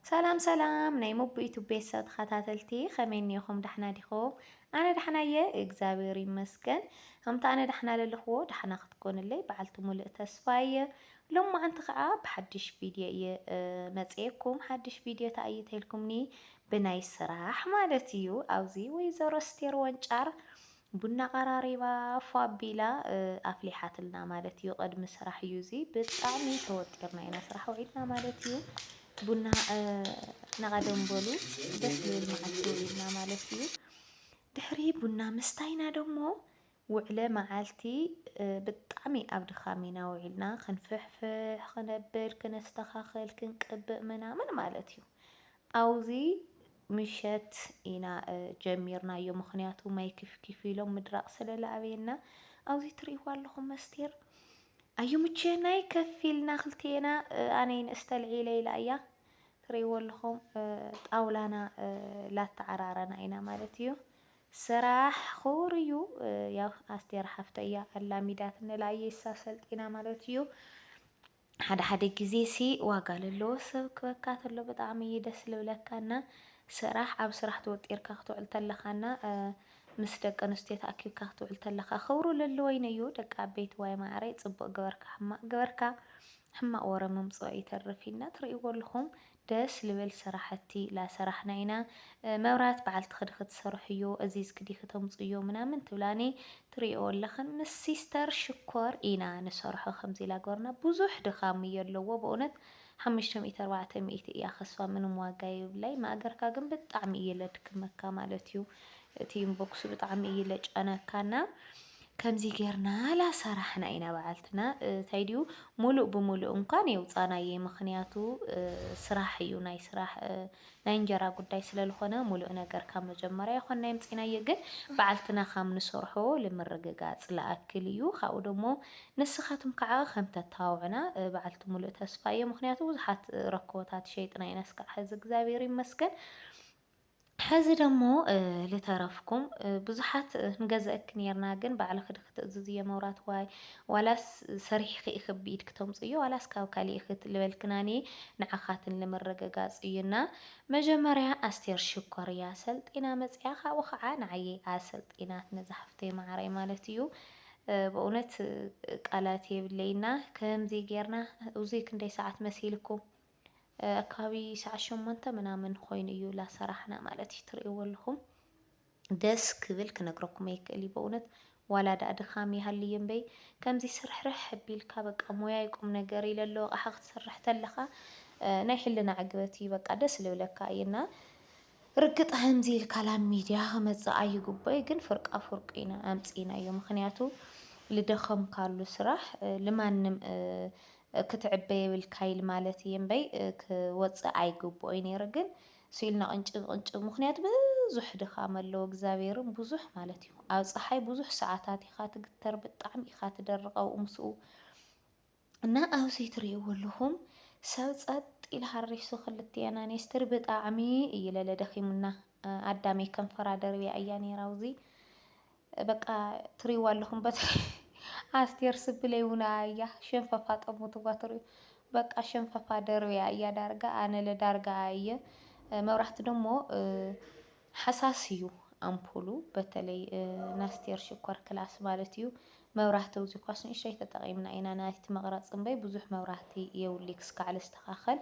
ሰላም ሰላም ናይ ሞቡ ዩቱብ ቤተሰብ ተኸታተልቲ ከመይ እኒኹም ዳሕና ዲኹም? ኣነ ዳሕና እየ እግዚኣብሔር ይመስገን። ከምቲ ኣነ ዳሕና ለለኽዎ ዳሕና ክትኮኑለይ በዓልቲ ሙሉእ ተስፋ እየ። ሎማዓንቲ ከዓ ብሓድሽ ቪድዮ እየ መፅኤኩም። ሓድሽ ቪድዮ እንታይ እዩ ተልኩምኒ ብናይ ስራሕ ማለት እዩ። ኣብዚ ወይዘሮ ስቴር ወንጫር ቡና ኣቐራሪባ ፏ ኣቢላ ኣፍሊሓትልና ማለት እዩ። ቅድሚ ስራሕ እዩ እዚ ብጣዕሚ ተወጢርና ኢና ስራሕ ውዒልና ማለት እዩ። ቡና ናቐደም በሉ ደስ ዝብል መዓልቲ ውዒልና ማለት እዩ። ድሕሪ ቡና ምስታይና ደሞ ውዕለ መዓልቲ ብጣዕሚ ኣብ ድኻም ኢና ውዒልና ክንፍሕፍሕ ክነብል ክነስተኻኽል ክንቅብእ ምናምን ማለት እዩ። ኣብዚ ምሸት ኢና ጀሚርናዮ ምክንያቱ ማይ ክፍኪፍ ኢሎም ምድራቅ ስለለኣበየና ኣብዚ ትርእይዋ ኣለኹም መስቴር ኣዩ ምቸናይ ከፍ ኢልና ክልቴና ኣነይ ንእስተልዒለ ኢላ እያ ትርእይዎ ኣለኹም ጣውላና ላተዓራረና ኢና ማለት እዩ ስራሕ ክቡር እዩ ያው ኣስቴር ሓፍተያ ኣላሚዳት ንላየሳ ሰልጢና ማለት እዩ ሓደ ሓደ ግዜ ሲ ዋጋ ለለዎ ሰብ ክበካ ተሎ ብጣዕሚ እዩ ደስ ልብለካ እና ስራሕ ኣብ ስራሕ ተወጢርካ ክትውዕል ተለካ እና ምስ ደቂ ኣንስትዮ ተኣኪብካ ክትውዕል ተለካ ክብሩ ለለወይን እዩ ደቂ ኣበይቲ ዋይ ማዕረይ ፅቡቅ ገበርካ ሕማቅ ገበርካ ሕማቅ ወረ ምምፅኦ ይተርፍ ኢና ትርእይዎ ኣለኹም ደስ ልብል ስራሕቲ ላሰራሕና ኢና መብራት በዓልቲ ክዲ ክትሰርሕዮ እዚዝ ክዲ ክተምፁዮ ምናምን ትብላኒ ትሪእኦ ኣለክን ምስ ሲስተር ሽኮር ኢና ንሰርሖ ከምዚ ላገበርና ብዙሕ ድካም እዮ ኣለዎ በእውነት ሓምሽተ ሚእቲ ኣርባዕተ ሚእቲ እያ ከስፋ ምንም ዋጋ የብላይ ማእገርካ ግን ብጣዕሚ እየ ለድክመካ ማለት እዩ እቲ ኢንቦክሱ ብጣዕሚ እይ ለጨነካና ከምዚ ጌርና ላሰራሕና ኢና ባዓልትና ታይ ድዩ ሙሉእ ብሙሉእ እንኳን የውፃናዬ ምክንያቱ ስራሕ እዩ ናይ ስራሕ ናይ እንጀራ ጉዳይ ስለልኾነ ሙሉእ ነገር ካብ መጀመርያ ይኾንና የምፂናዬ ግን ባዓልትና ካም ንሰርሖ ልምርግጋፅ ልኣክል እዩ ካብኡ ደሞ ንስኻትም ካዓ ከም ተታባብዑና ባዓልቲ ሙሉእ ተስፋ እየ ምክንያቱ ብዙሓት ረኮቦታት ሸይጥና ኢና እስካዕ ሐዚ እግዚኣብሔር ይመስገን ሐዚ ደሞ ልተረፍኩም ብዙሓት ንገዘእኪ ኔርና ግን ባዕልኺ ድኺ ትእዝዝዮ መብራት ዋይ ዋላስ ሰሪሕኺ ኢኺ ብኢድ ክተምፅዮ ዋላስ ካብ ካሊእ ኢኺ ልበልክና እኔ ንዓኻትን ልምርግጋፅ እዩ እና መጀመርያ ኣስቴር ሽኮር እያ ሰልጢና መፅያ ካብኡ ከዓ ንዓየይ ኣሰልጢናትኒ ዝሓፍተይ ማዓረይ ማለት እዩ በእውነት ቃላት የብለይና ከምዚ ጌርና እዙይ ክንደይ ሰዓት መሲልኩም ኣከባቢ ሰዓት ሸሞንተ ምናምን ኾይኑ እዩ ላሰራሕና ማለት እዩ ትርእይዎ ኣለኹም ደስ ክብል ክነግረኩም ኣይክእል እዩ በእውነት ዋላ ዳኣ ድኻም ይሃልይ እምበይ ከምዚ ስርሕርሕ ኣቢልካ በቃ ሞያ ይቁም ነገር ኢለ ኣሎ ኣቕሓ ክትሰርሕ ተለኻ ናይ ሕልና ዕግበት እዩ በቃ ደስ ልብለካ እዩና ርግጥ ከምዚ ኢልካ ላብ ሚድያ ክመጽእ ኣይግቦይ ግን ፍርቃ ፍርቁ ኢና ኣምጺኢናዮ ምክንያቱ ልደከምካሉ ስራሕ ልማንም ክትዕበ የብልካ ኢል ማለት እየ እምበይ ክወጽእ ኣይግቦኦይ ነይሩ ግን ስኢልና ቅንጭብ ቅንጭብ ምክንያቱ ብዙሕ ድካም ኣለዎ እግዛብሄርም ብዙሕ ማለት እዩ ኣብ ጸሓይ ብዙሕ ሰዓታት ኢካ ትግተር ብጣዕሚ ኢካ ትደርቅ ኣብኡ ምስኡ እና ኣብዚ ትሪእዎ ኣለኹም ሰብ ጸጥ ኢሉ ሃሪሱ ክልቲኤን ኣንስትር ብጣዕሚ እዩ ለለ ደኺሙና ኣዳመይ ከንፈራ ደርብያ እያ ነይራ ኣብዚ በቃ ትሪእዎ ኣለኹም በቲ ኣስቴር ስብለይ እውን ኣያ ሸንፈፋ ጠሙትዋ ትሪኡ በቃ ሸንፈፋ ደርብያ እያ ዳርጋ ኣነለ ዳርጋ እየ መብራህቲ ደሞ ሃሳስ እዩ ኣምፑሉ በተለይ ናስቴር ሽኮር ክላስ ማለት እዩ መብራህቲ ውዚ ኳስ ንእሽተይ ተጠቂምና ኢና ናይቲ መቅረፂ እምበይ ብዙሕ መብራህቲ የውሊ ክስካዕ ልስተካከል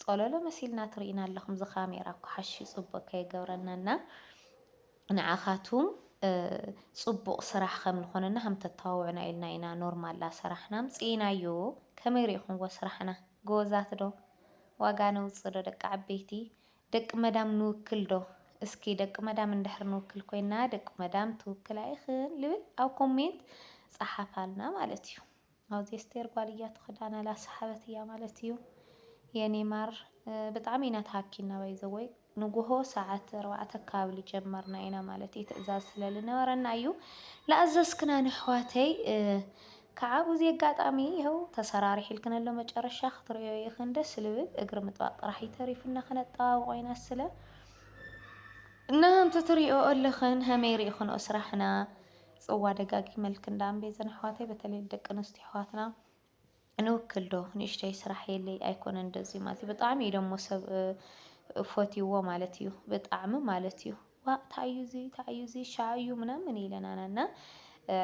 ፆሎሎ መሲልና ትሪኢና ኣለኩም እዚ ካሜራ እኮ ሓሺ ፅቡቅ ከይገብረና እና ንዓካቱም ፅቡቅ ስራሕ ከም ልኮነና ከም ተተባብዑና ኢልና ኢና ኖርማል ላሰራሕና ኣምፂኢናዮ ከመይ ሪኢኩምዎ ስራሕና ጎበዛት ዶ ዋጋ ነውፅእ ዶ ደቂ ዓበይቲ ደቂ መዳም ንውክል ዶ? እስኪ ደቂ መዳም እንድሕር ንውክል ኮይና ደቂ መዳም ትውክል ኣይኽን ልብል ኣብ ኮሜንት ጸሓፋልና ማለት እዩ። ኣብዚ ኣስቴር ጓል እያ ትኽዳና ላ ሰሓበት እያ ማለት እዩ። የኔ ማር ብጣዕሚ ኢና ተሃኪና ባይዘወይ ንጉሆ ሰዓት ኣርባዕተ ካብ ልጀመርና ኢና ማለት እዩ ትእዛዝ ስለልነበረና እዩ። ለኣዘዝክና ነሕዋተይ ካዓ ቡዙይ ኣጋጣሚ ይሀው ተሰራሪሒልክንሎ መጨረሻ ክትሪኦ ኢክን ደስ ልብል እግሪ ምጥባቅ ጥራሕ እዩ ተሪፍና ከነጠባብቆ ኢና ስለ እና እንትትሪኦ እልክን ሀመይ ሪኢክንኦ ስራሕና ፅዋ ደጋጊመልክን ዳኣ እምቤዘን ኣሕዋተይ በተለይ ንደቂ ኣንስትዮ ኣሕዋትና ንውክል ዶ ንእሽተይ ስራሕ የለይ ኣይኮነ እንደዚ ማለት እዩ ብጣዕሚ እዩ ደሞ ሰብ ፎትይዎ ማለት እዩ ብጣዕሚ ማለት እዩ ዋእ ታእዩ እዚ ታእዩ እዚ ሻዕ እዩ ምናምን ኢለናና እና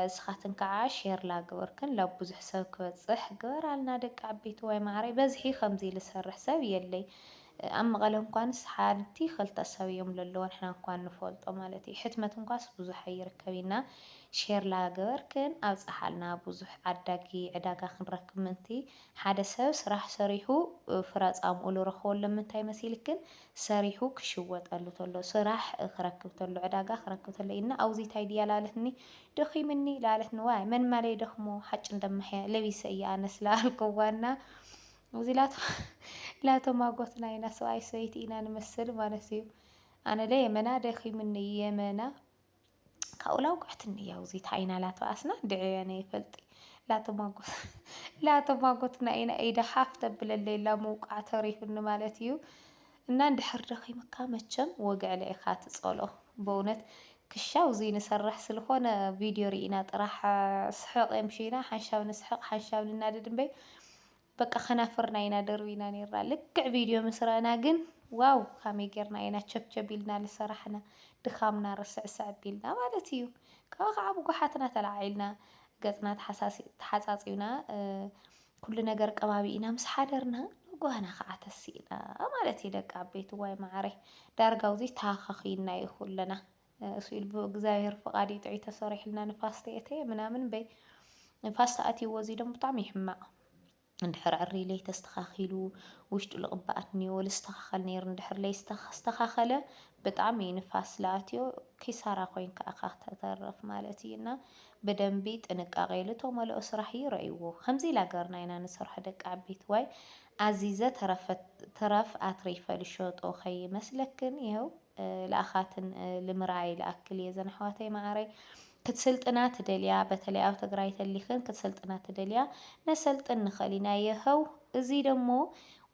እስኻትን ካዓ ሼር ላገበርክን ላብ ቡዙሕ ሰብ ክበፅሕ ግበራልና ደቂ ዓበይትዋይ ማዓረይ በዝሒ ከምዚ ልሰርሕ ሰብ የለይ ኣብ መቐለ እንኳንስ ሓንቲ ክልተ ሰብ እዮም ለለዎ ንሕና እንኳን ንፈልጦ ማለት እዩ ሕትመት እንኳስ ቡዙሕ ኣይርከብ እና ሼር ላገበርክን ኣብፀሓልና ቡዙሕ ዓዳጊ ዕዳጋ ክንረክብ ምእንቲ ሓደ ሰብ ስራሕ ሰሪሑ ፍረ ፃምኡ ልረኽቦ ለምንታይ መሲልክን ሰሪሑ ክሽወጠሉ ተሎ ስራሕ ክረክብ ተሎ ዕዳጋ ክረክብ ተሎ ኢድና ኣውዚ ታይ ድያ ላለትኒ ደኺምኒ ላለትኒ ዋይ መን ማለ ይደኽሞ ሓጭ እንደማሕያ ለቢሰ እየ ኣነስ ላኣልኩዋና እዚ ላቶ ላቶ ማጎትና ኢና ሰብኣይ ሰበይቲ ኢና ንመስል ማለት እዩ ኣነ ለ የመና ደኺምኒ የመና ካብኡ ላውቅዕት እንያው ዚት ዓይና ላቶ ኣስና ድዕያ ነይ ፈልጢ ላቶ ማጎት ላቶ ማጎት ናይና ኢዳ ሓፍ ተብለለይላ ምውቃዕ ተሪፍኒ ማለት እዩ እና እንድሕር ደኺምካ መቸም ወግዕለ ኢኻ ትጸሎ በእውነት ክሻው እዚ ንሰርሕ ስለኾነ ቪድዮ ርኢና ጥራሕ ስሕቕ የምሽና ሓንሻብ ንስሕቕ ሓንሻብ ንናደድ እምበይ በቃ ከናፍርና ኢና ደርቢና ኔርና ልክዕ ቪድዮ ምስ ረእና ግን ዋው ካመይ ጌርና ኢና ቸብቸብ ኢልና ልሰራሕና ድኻምና ርስዕስዕ ኣቢልና ማለት ኢዩ ካብኡ ከዓ ብጉሓትና ተላዓዒልና ገጽና ተሓጻጺብና ኩሉ ነገር ቀባቢእና ምስ ሓደርና ጓና ከዓ ተሲእና ማለት ኢዩ ደቂ ዓበይቲ ዋይ ማዓረይ ዳርጋ ኣብዙይ ተሃኻኺይና ኢዩ ኩልና እሱ ኢሉ ብእግዚኣብሔር ፍቃድ እዩ ጥዑይ ተሰሪሑልና ንፋስ ተየእተየ ምናምን እምበይ ንፋስ ተኣትይዎ እዙይ ደሞ ብጣዕሚ ይሕማቅ እንድሕር ዕርይ ለይተስተኻኺሉ ውሽጡ ልቕባኣት እኒዎ ልስተኻኸል ነይሩ እንድሕር ለይስተኻኸለ ብጣዕሚ ንፋስ ልኣትዮ ኪሳራ ኮይንካ እኻ ተተርፍ ማለት እዩ እና ብደንቢ ጥንቃቄ ልተመልኦ ስራሕ እዩ ረእይዎ ከምዚ ኢላ ገርና ኢና ንሰርሖ ደቂ ዓበይቲ ዋይ ኣዚዘ ተረፍ ኣትሪፈ ልሸጦ ከይመስለክን ይኸው ልኣኻትን ልምርኣይ ልኣክል እየ ዘን ኣሕዋተይ ማዓረይ ክትስልጥና ትደልያ በተለይ ኣብ ትግራይ ተሊክን ክትሰልጥና ትደልያ ነሰልጥን ንክእል ኢና የሀው እዙይ ደሞ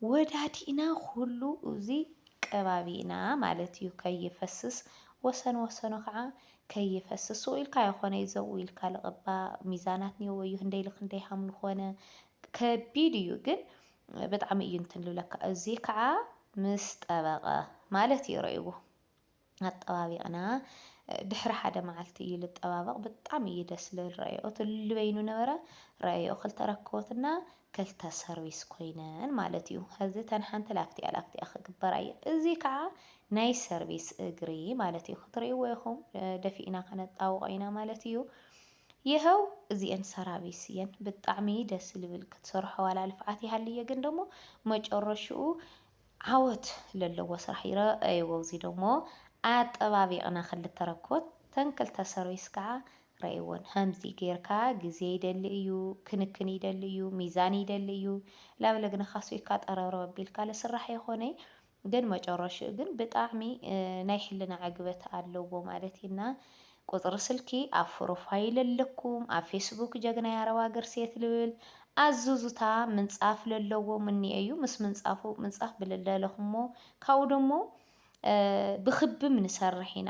ወዳዲእና ኩሉ እዙይ ቀባቢእና ማለት እዩ ከይፈስስ ወሰን ወሰኑ ከዓ ከይፈስስ ሱቅ ኢልካ የኮነ እዩ ዘብኡ ኢልካ ልቅባ ሚዛናት ኒኦዎ እዩ ህንደይ ልክንደይ ሃምሉ ኮነ ከቢድ እዩ ግን ብጣዕሚ እዩ እንትን ልብለካ እዚ ከዓ ምስ ጠበቐ ማለት እዩ ረእይዎ ኣጠባቢቕና ድሕሪ ሓደ መዓልቲ እዩ ልጠባበቕ ብጣዕሚ እዩ ደስ ልብል ረእዮ ትልሉ በይኑ ነበረ ረእዮ ክልተ ረክቦትና ክልተ ሰርቪስ ኮይነን ማለት እዩ ሕዚ ተን ሓንቲ ላክቲኣ ላክቲኣ ክግበራ እየ እዚ ከዓ ናይ ሰርቪስ እግሪ ማለት እዩ ክትርእይዎ ኢኹም ደፊእና ከነጣውቆ ኢና ማለት እዩ የሀው እዚኤን ሰራቢስ እየን ብጣዕሚ ደስ ልብል ክትሰርሖ ዋላ ልፍዓት ይሃልዬ ግን ደሞ መጨረሽኡ ዓወት ለለዎ ስራሕ ይረኣይዎ እዚ ደሞ ኣጠባቢቅና ክልተ ረኮት ተን ክልተ ሰርቢስ ካዓ ረኣይዎን ሀምዚ ገይርካ ግዜ ይደሊ እዩ ክንክን ይደሊ እዩ ሚዛን ይደሊ እዩ ላብለ ግና ካሶይካ ጠረብረብ ኣቢልካ ልስራሕ የኮነይ ግን መጨረሽኡ ግን ብጣዕሚ ናይ ሕልና ዕግበት ኣለዎ ማለት እዩ እና ቁፅሪ ስልኪ ኣብ ፎሮፋይል ኣለኩም ኣብ ፌስቡክ ጀግናይ ኣረብ ሃገር ሴት ልብል ኣዙዙታ ምንፃፍ ለለዎ ምንየ እዩ ምስ ምንፃፉ ምንፃፍ ብልለለኹሞ ካብኡ ደሞ ብክብም ንሰርሕ ኢና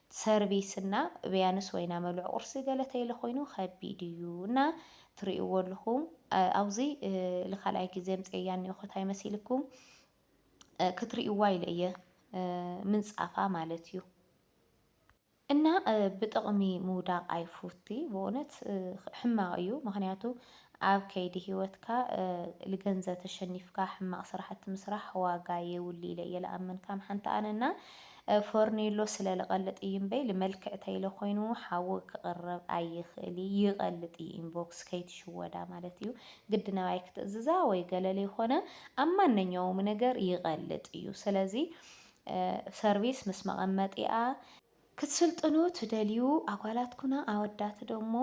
ሰርቪስ እና ብያንስ ወይና መሉዕ ቁርሲ ገለ ተይለ ኮይኑ ከቢድ እዩ እና ትሪእዎ ኣልኹም ኣውዚ ልካልኣይ ግዜ ኣምፀያ እኒኦኹ ታይ መሲልኩም ክትሪእዋ ኢለ እየ ምንፃፋ ማለት እዩ እና ብጥቕሚ ምውዳቕ ኣይፉቲ ብእውነት ሕማቕ እዩ ምክንያቱ ኣብ ከይዲ ሂወትካ ልገንዘብ ተሸኒፍካ ሕማቅ ስራሕቲ ምስራሕ ዋጋ የብሉ ኢለ እየ ልኣምን ካም ሓንቲ ኣነ እና ፎርኔሎ ስለ ልቀልጥ እዩ እምበይ ልመልክዕ ተይለ ኮይኑ ሓዊ ክቅረብ ኣይክእል እዩ ይቀልጥ እዩ ኢንቦክስ ከይትሽወዳ ማለት እዩ ግድ ነባይ ክትእዝዛ ወይ ገለ ልይኮነ ኣብ ማነኛውም ነገር ይቀልጥ እዩ ስለዚ ሰርቪስ ምስ መቀመጢኣ ክትስልጥኑ ትደልዩ ኣጓላትኩና ኣወዳት ደሞ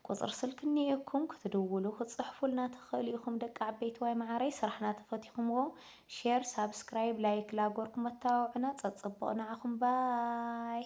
ቁጽሪ ስልኪ እኒኤኩም ክትድውሉ ክትጽሕፉልና ትክእሉ ኢኩም ደቂ ዓበይትዋይ መዓረይ ስራሕና ተፈቲኩምዎ ሼር ሳብስክራይብ ላይክ ላጎርኩም ኣተባብዑና ጸጽቡቅ ንዓኩም ባይ።